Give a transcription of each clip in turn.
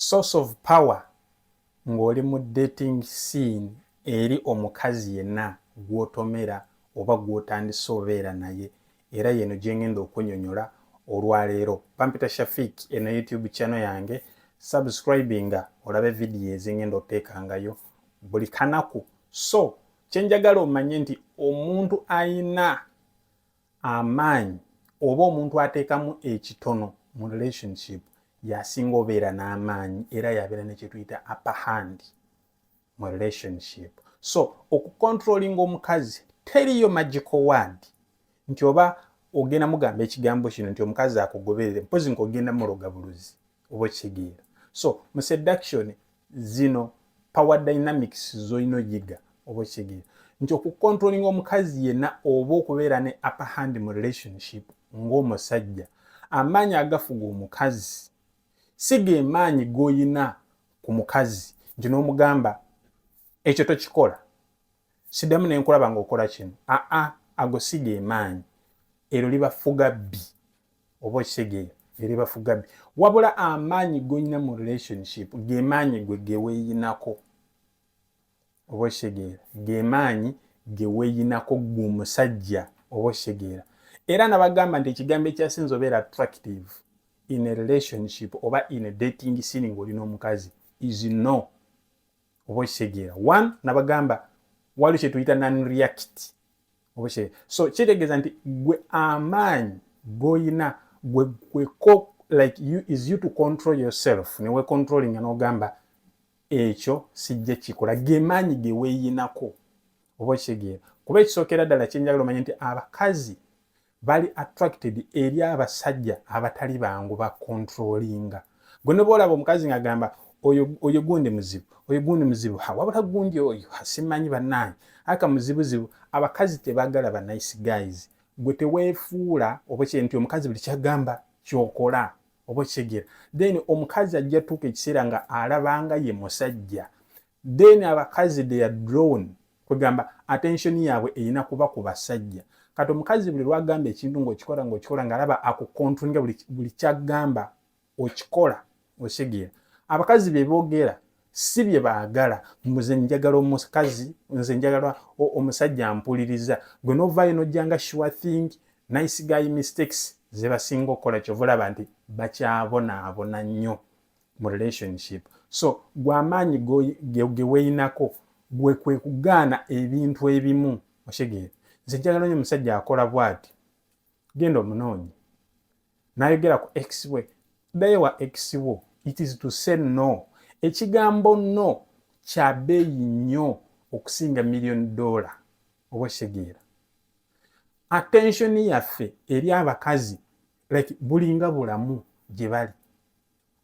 source of power ng'oli mu dating scene eri omukazi yenna gw'otomera oba gw'otandise obeera naye era yeno gye ngenda okunyonyola olwaleero bampita shafik eno youtube channel yange subscribinga olabe vidiyo ezingenda oteekangayo buli kanaku so kyenjagala omanye nti omuntu ayina amaanyi oba omuntu ateekamu ekitono mu relationship yasinga obeera n'amaanyi era yabeera nekyetuyita upper hand mu relationship so okucontrollinga omukazi teriyo magical word nti oba ogenda mugamba ekigambo kino nti omukazi akugoberere mpozi nti ogenda muloga buluzi oba okitegeera so mu seduction zino power dynamics zolina oyiga oba okitegeera nti okukontrolinga omukazi yenna oba okubeera ne upper hand mu relationship ng'omusajja amaanyi agafuga omukazi si gemaanyi g'olina ku mukazi nti n'omugamba ekyo tokikola sidamu nenkulaba nga okola kino aa ago siga emaanyi ero libafuga bbi oba okitegeera eribafuga bbi wabula amaanyi golina mu relationship gemaanyi gwe geweyinako oba okitegeera gemaanyi geweyinako gwe omusajja oba okitegeera era nabagamba nti ekigambo ekyasinza obeera attractive in a relationship oba in a dating scene ngaoli n'omukazi is no oba okitegeera one nabagamba waliwo kyetuyita nanreact oba so kitegeeza nti gwe amaanyi goyina gwe gweko like you is you to control yourself newe controlling nogamba ekyo sijja kikola gemaanyi geweyinako oba okitegeera kuba ekisookera ddala kyenjagala omanye nti abakazi bali attracted eri abasajja abatali bangu ba controllinga gwe ne bwolaba omukazi ng'agamba oyo oyo gundi muzibu oyo gundi muzibu ha wabula gundi oyo simanyi bannange aka muzibuzibu abakazi tebagala ba nice guys gwe teweefuula oba kye nti omukazi buli kyagamba kyokola oba okitegera then omukazi ajja tuuka ekiseera nga alabanga ye musajja then abakazi they are drawn kwegamba attention yaabwe erina kuba ku basajja kati omukazi buli lwagamba ekintu ngaokikola ngaokikola ngaalaba akukontrolinga buli kyagamba okikola okitegera abakazi bebogera si bye baagala nze njagala omukazi nze njagala omusajja mpuliriza gwe novaayo nojjanga sure thing nice guy mistakes zebasinga okukola kyova olaba nti bakyabonaabona nnyo mu relationship so gwe amaanyi geweyinako gwe kwe kugaana ebintu ebimu okitegeera nze njagala nyo omusajja akola bwati genda omunoonyi nayogera ku ex we ddayo wa ex wo it is to say no ekigambo no kya beeyi nnyo okusinga million dollar oba okitegeera attention yaffe eri abakazi like bulinga bulamu gye bali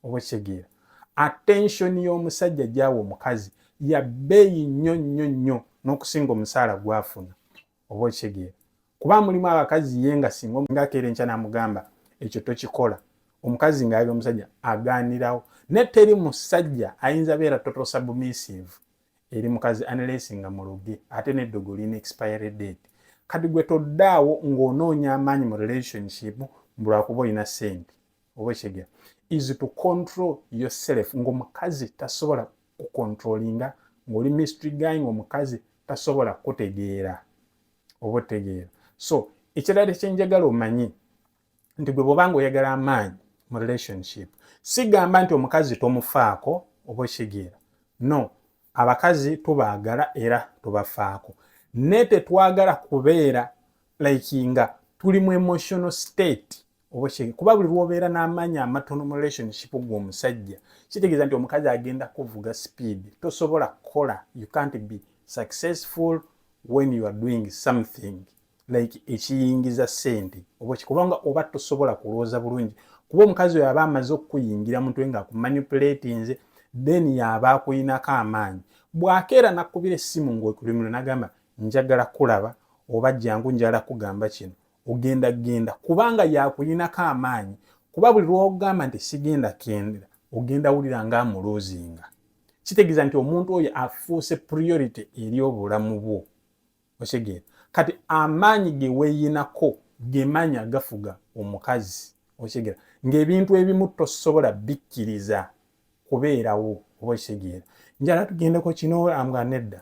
oba okitegeera attention y'omusajja gyawa omukazi ya bbeeyi nnyo nnyo nnyo n'okusinga omusaala gwafuna oba okitegeera kuba mulimu abakazi ye nga singa ngakeera enkya namugamba ekyo tokikola omukazi ngaabi omusajja agaanirawo naye teri musajja ayinza beera total submissive eri mukazi unless nga muloge ate neddogo lina expiry date kati gwe toddaawo ng'onoonya amaanyi mu relationship mbulwakuba olina ssente oba ekitegeera is to control yourself ngaomukazi tasobola kucontrolinga ngaoli mystery guy ngaomukazi tasobola kutegeera oba otegeera so ekirala kyenjagala omanyi nti gwe bwobanga oyagala amaanyi mu relationship sigamba nti omukazi tomufaako oba okitegeera no abakazi tubaagala era tubafaako naye tetwagala kubeera like nga tuli mu emotional state obokyege kuba buli lwobeera n'amaanyi amatono mu relationship gwomusajja kitegeeza nti omukazi agenda kuvuga speed tosobola kukola you can't be successful when you are doing something like ekiyingiza sente oba kikubanga oba tosobola kulooza bulungi kuba omukazi oyo aba amaze okukuyingira mutwe nga akumanipulatinze then yaba akuyinako amaanyi bwakeera nakubira essimu ngaokulimiro nagamba njagala kulaba oba jangu njala kugamba kino ogenda genda kubanga yakuyinako amaanyi kuba buli lwogamba nti sigenda kendera ogenda wulira nga amuluuzinga kitegeeza nti omuntu oyo afuuse priority eri obulamu bwo okitegeera kati amaanyi ge weeyinako gemaanyi agafuga omukazi okitegeera ng'ebintu ebimu tosobola bikkiriza kubeerawo oba okitegeera njala tugendeko kino amga nedda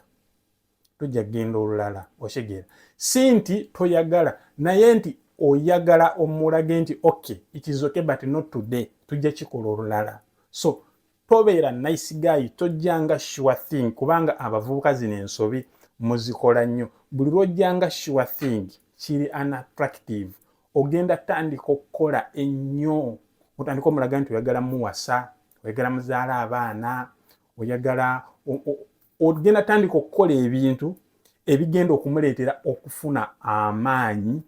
tujja kugenda olulala okitegeera si nti toyagala naye nti oyagala omulage nti okay it is okay but not today tujja kikola olulala so tobeera nice guy tojjanga sure thing kubanga abavubuka zino ensobi muzikola nnyo buli lwojjanga sure thing kiri unattractive ogenda tandika okukola ennyo otandika omulaga nti oyagala muwasa oyagala muzaala abaana oyagala ogenda tandika okukola ebintu ebigenda okumuleetera okufuna amaanyi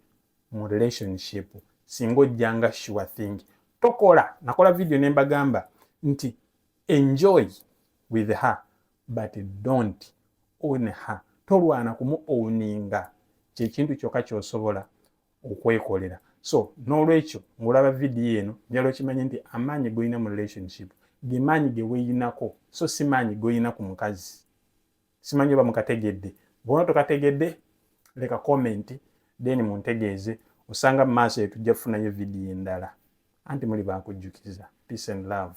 mu relationship singa ojja nga sure thing tokola nakola video ne mbagamba nti enjoy with her but don't own her tolwana kumu owninga kyekintu kyokka kyosobola okwekolera so n'olwekyo ng'olaba vidiyo eno njala okimanye nti amaanyi golina mu relationship gemaanyi geweyinako so si maanyi golina ku mukazi simanyi oba mukategedde bona tokategedde leka comment then muntegeeze osanga mu maaso yetujja kufunayo vidiyo endala anti muli bakujjukiza peace and love